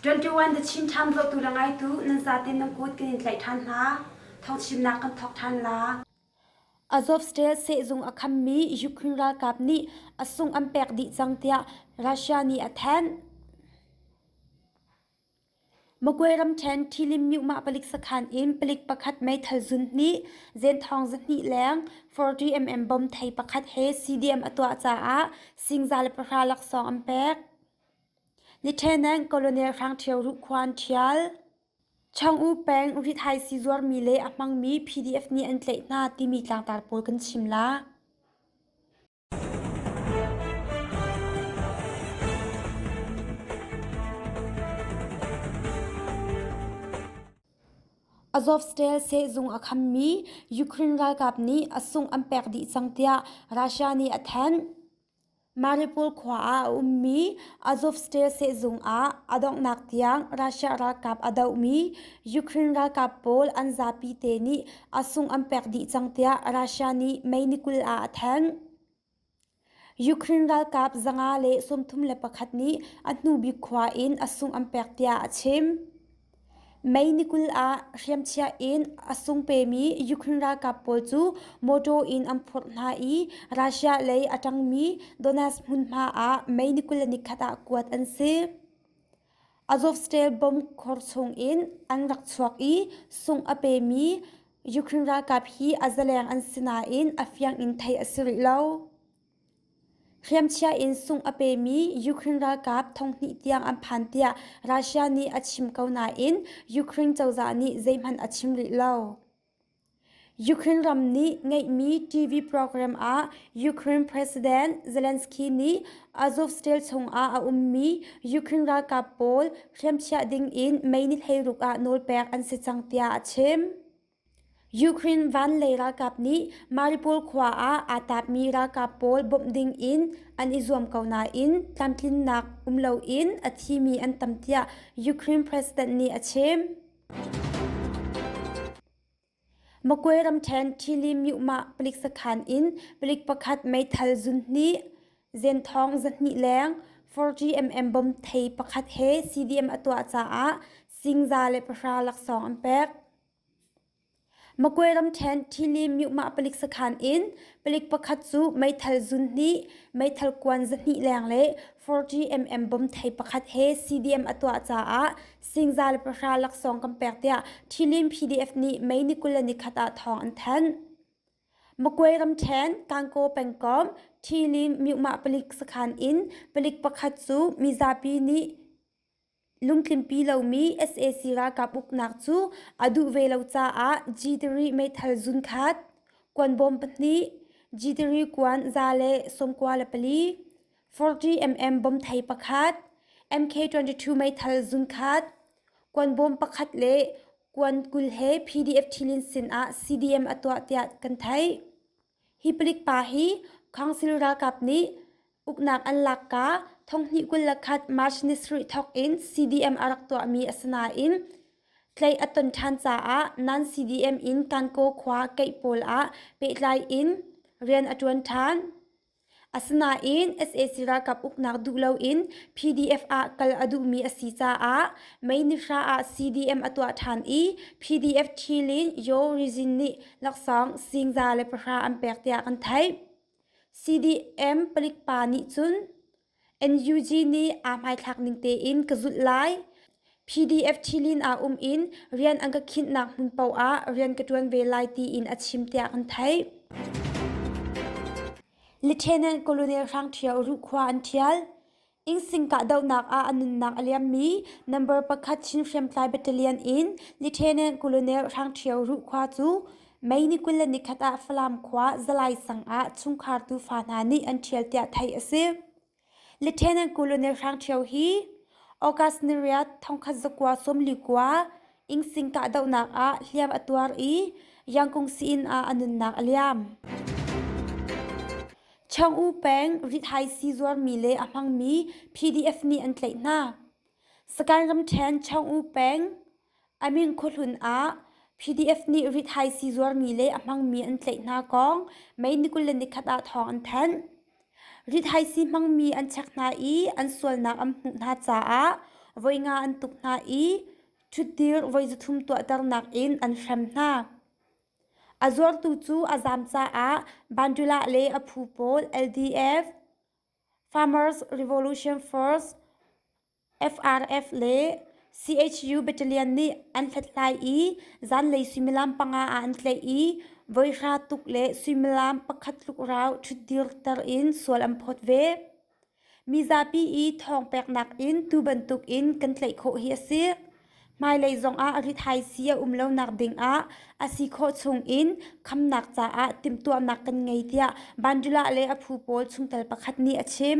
21 the Chin Town votu la ngaitu nan zaten nan kut kan in tlaih than hna thawchimnak kan thawk than la Azovstal sehzung a khammi Ukraine ralkap nih a sung an pek dih cang tiah Russia nih a thanh. Magway ramṭhen Thilim myuhmah palik sakhan in palik pakhat meithal zun hnih, zenthawng zahnih leng 40mm bom thei pakhat he CDM a tuah caah singza le pahra laksawng an pek. Nithenen Colonel Hrang Ṭhio Ruh Khuan ṭhial. Chang'u peng rithaisi zuarmi le a hmangmi PDF nih an tlaih hna timi tlangtar pawl kan chim la. Azovstal sehzung a khammi Ukraine ralkap nih a sung an pek dih cang tiah Russia nih a thanh. Mariupol khua ah a ummi Azovstal sehzung ah a donghnak tiang Russia ralkap a dohmi Ukraine ralkap pawl an zapi te nih a sung an pek dih cang tiah Russia nih May ni kul ah a thanh. Ukraine ralkap zanga le sawmthum le pakhat nih a hnubik khua in a sung an pek tiah a chim. May ni kul ah hriamchiah in a sung pemi Ukraine ralkap pawl cu mawṭaw in an phurh hna i Russia lei a ṭangmi Donetsk hmunhma ah May ni kul le ni khat ah kuat an si. Azovstal bomb khor chungin an rak chuak i sung a pemi Ukraine ralkap hi a zaleng an si nain a fiang in theih a si rih lo. hriamchia in sungh a pemi ukraine ralkap thonghnih tiang an phan tiah russia nih a chim ko nain ukraine cozah nih zeihmanh a chim rih lo ukraine ram nih ngeihmi tv program ah ukraine president zelensky nih azovstal chungah a ummi ukraine ralkap pawl hriamchiah ding in mei ni hleiruk ah nawlpek an si cang tiah a chim Ukraine van le ralkap nih Mariupol khua ah aa tapmi ralkap pawl bawmh ding in an i zuam ko nain tlamtlinnak um loin a thimi an tam tiah Ukraine president nih a chim. Magway ramṭhen Ṭili Myumah palik sakhan in palik pakhat meithal zun hnih, zenthawng zahnih leng, 4GMM bom thei pakhat he CDM a tuah caah singza le pahra laksawng an pek. Magway ramṭhen Thili myuhmah palik sakhan in palik pakhat cu meithal zun hnih, meithal kuan zahnih leng le 40mm bom thei pakhat he CDM a tuah caah singza le pahra laksawng kan pek tiah Thilin PDF nih May ni kul le ni khat ah thawng an thanh. Magway ramṭhen Kankaw pengkomh Thili myuhmah palik sakhan in palik pakhat cu mizapi nih Lungtlimpi lomi sac ralkap uknak cu a duh ve lo caah G3 meithal zun khat, kuan bawm pahnih, G3 kuan za le sawmkua le pali, 40mm bom thei pakhat, MK22 meithal zun khat, kuan bawm pakhat le kuan kul he PDF ṭhilin sinah CDM a tuah tiah kan theih. Hi palik pa hi council ralkap nih uknak an lakka thonghnih kul le khat March ni sarih thawk in CDM a rak tuahmi a si nain tlaih a ton ṭhan caah nan CDM in Kankaw khua keih pawl ah pehtlai in rian a ṭuan ṭhan. Asinain sac ralkap uknak duh loin PDF ah kal a duhmi a si caah Meinihra ah CDM a tuah ṭhan i PDF ṭhilin Yaw Rizin nih laksawng singza le pahra an pek tiah kan theih. CDM palik pa nih cun NUG nih aa hmaithlak ning tein ka zulh lai. PDF Ṭhilin ah um in rian an ka khinhnak hmun paoh ah rian ka ṭuan ve lai tiin a chim tiah kan theih. Lieutenant Colonel Hrang Ṭhio ruhkhua an ṭhial. Ingsing kahdohnak ah a nunnak a liammi number pakhat Chin Hriamtlai Battalion in Lieutenant Colonel Hrang Ṭhio ruhkhua cu Mei ni kul le nikhat ah Falam khua Zalai sang ah chungkhar tufa hna nih an ṭhial tiah theih a si. Lieutenant Colonel Hrang Ṭhio hi August ni riat thongkhat zakua sawmli kua Ingsing kahdohnak ah hliam a tuar i Yangkung siin ah a nunnak a liam. Chang U Peng rithai si zuarmi le a hmangmi PDF nih an tlaih hna. Sakain ramṭhen Chang U Peng A min khuahlun ah PDF nih ri thaisi zuarmi le a hmangmi an tlaih hna kong May ni kul le nikhat ah thawng an thanh. Ri thaisi hmangmi an chek hna i an sualnak an hmuh hna caah voi nga an tuk hna i ṭhutdir voi zuthum tuahternak in an hrem hna. A zuartu cu a zaam caah Bandula le a phu pawl LDF, Farmers Revolution First, FRF le CHU battalion nih an hlathlai i zanlei suimilam panga ah an tlaih i voihra tuk le suimilam pakhat tlukrau ṭhutdirter in sual an phawt ve. Mi zapi i thawng peknak in tu bantukin kan tlaih khawh hi a si. Hmailei zongah rithaisi a um lonak dingah a si khawh chungin khamnak caah timhtuahnak kan ngei tiah Bandula le a phu pawl chungtel pakhat nih a chim.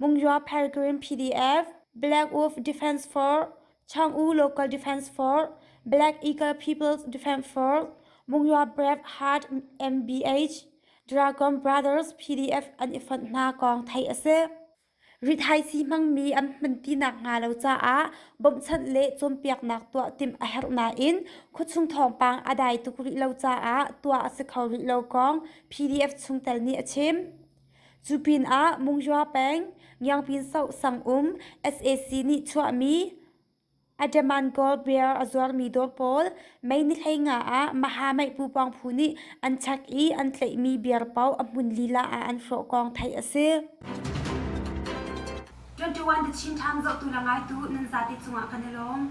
Mungyaw Pelgrim PDF Blackwolf Defence Force Chang'u Local Defence Force Black Eagle People's Defence Force Mungyaw Brave Heart MBH Dragon Brothers PDF an i fonh hna kong theih a si. Rithaisi hmangmi an hmantinak hnga lo caah bawmhchanh le cawnpiaknak tuah timh a herh nain khuachung thawngpang a dai tuk rih lo caah tuah a si kho rih lo kong PDF chungtel nih a chim. Cu pinah Munghyua peng Ngiangpinsoh sang-um sac nih chuahmi Ademangawl beer a zuarmi dawr pawl Mei ni hlei nga ah Mahameihpu pawngphu nih an chak i an tlaihmi beer paoh a hmun lila ah an hrawh kong theih a si. 21 The Chin Times zohtu le ngaitu nan zate cungah kan i lawm.